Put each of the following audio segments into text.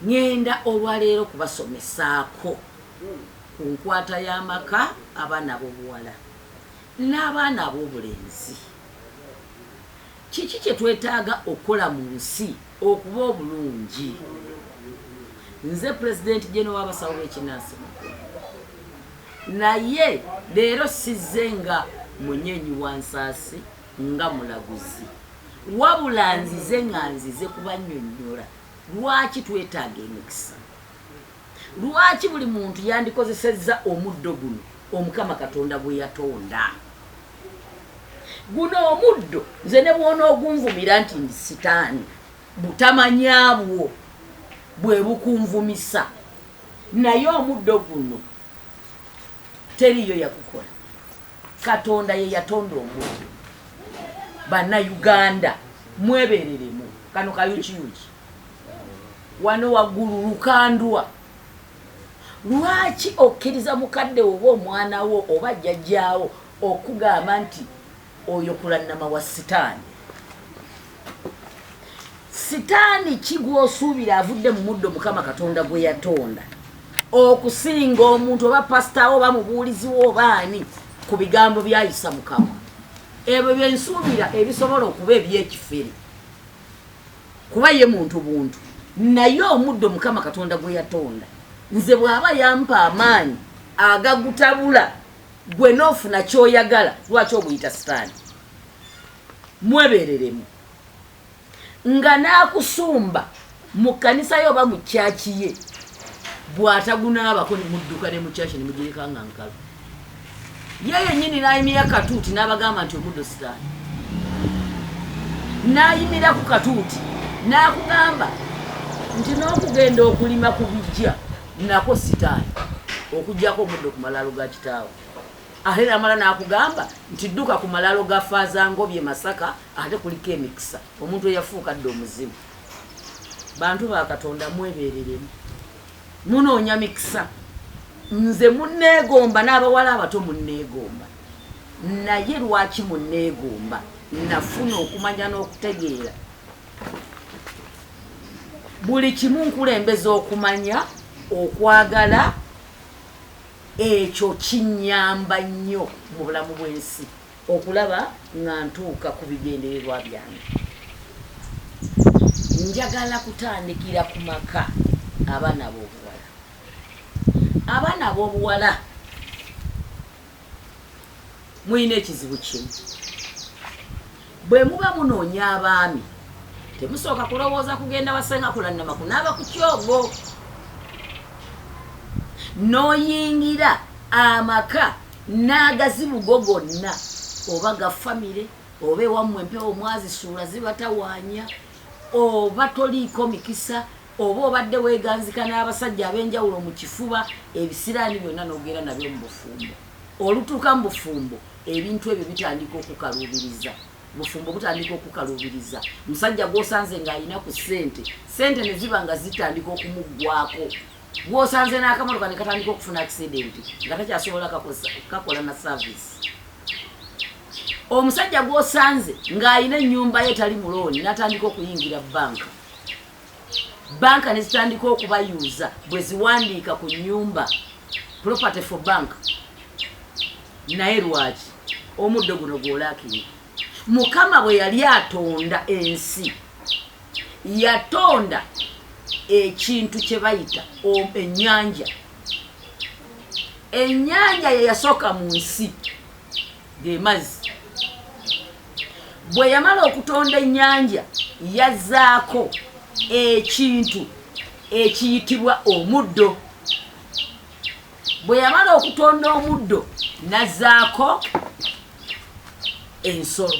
Ngenda olwa leero kubasomesaako ku nkwata y'amaka, abaana ab'obuwala n'abaana ab'obulenzi. Kiki kye twetaaga okukola mu nsi okuba obulungi? Nze Pulezidenti Jene w'abasawo b'ekinnansi mu ggwanga. Naye leero sizze nga munyeenyi wa nsaasi, nga mulaguzi. Wabula nzize nga nzize kubannyonnyola. Lwaki twetaaga emikisa? Lwaki buli muntu yandikozesezza omuddo guno Omukama Katonda gwe yatonda? Guno omuddo nze ne bw'onoogunvumira nti ndi sitaani, butamanya bwo bwe bukunvumisa, naye omuddo guno teriiyo yagukola. katonda yeyatonda omuntu bana uganda mwebereremu kano kayukiyuki wano wagulu lukandwa lwaki okkiriza mukadde oba omwana wo oba jjajjaawo okugamba nti oyo kulanama wa sitaani sitaani ki gw'osuubira avudde mu muddo mukama katonda gwe yatonda okusinga omuntu oba pasitawo oba mubuuliziwo oba ani ku bigambo byayisa mukama ebyo byensuubira ebisobola okuba ebyekifere kuba ye muntu buntu naye omuddo mukama katonda gwe yatonda nze bw'aba yampa amaanyi agagutabula gwe n'ofuna ky'oyagala lwaki oguyita sitaani mwebereremu nga n'akusumba mu kkanisa ye oba mu kyaki ye bw'atagunaabako ne mudduka ne mu kyaki ne mugireka nga nkalu ye yennyini n'ayimira katuuti n'abagamba nti omuddo sitaani n'ayimira ku katuuti n'akugamba nti n'okugenda okulima ku bijja nako sitaani okugyako omuddo ku malaalo ga kitaawe Ate namala nakugamba nti dduka ku malalo ga Faaza Ngobye Masaka ate kuliko emikisa omuntu eyafuuka dda omuzimu. Bantu ba Katonda mwebereremu. Munoonya mikisa. Nze munneegomba n'abawala abato munneegomba. Naye lwaki munneegomba? Nafuna okumanya n'okutegeera. Buli kimu nkulembeza okumanya, okwagala, Ekyo kinnyamba nnyo mu bulamu bw'ensi okulaba nga ntuuka ku bigendererwa byange. Njagala kutandikira ku maka, abaana ab'obuwala. Abaana ab'obuwala. Mulina ekizibu kimu, bwe muba munoonya abaami temusooka kulowooza kugenda wasenga kulannama kunaaba ku kyogo n'oyingira amaka n'agazibugo gonna oba ga famire oba ewammwe empewo mwazisuula zibatawaanya oba toliiko mikisa Oba obadde weeganzika n'abasajja ab'enjawulo mu kifuba, ebisiraani byonna n'ogenda nabyo mu bufumbo. Olutuuka mu bufumbo, ebintu ebyo bitandika okukaluubiriza. Obufumbo butandika okukaluubiriza. Omusajja gw'osanze ng'alina ku ssente, ssente ne ziba nga zitandika okumuggwaako. Gw'osanze n'akamotoka ne katandika okufuna akisidenti nga takyasobola kakola na saaviisi. Omusajja gw'osanze ng'alina ennyumba ye tali mulooni n'atandika okuyingira bbanka. banka ne zitandika okubayuuza bwe ziwandiika ku nyumba property for bank naye lwaki omuddo guno gwolakiri mukama bwe yali atonda ensi yatonda ekintu kye bayita ennyanja ennyanja ye yasooka mu nsi ge mazzi bwe yamala okutonda ennyanja yazzaako ekintu ekiyitibwa omuddo bwe yamala okutonda omuddo nazzaako ensolo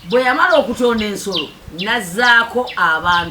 bwe yamala okutonda ensolo nazzaako abantu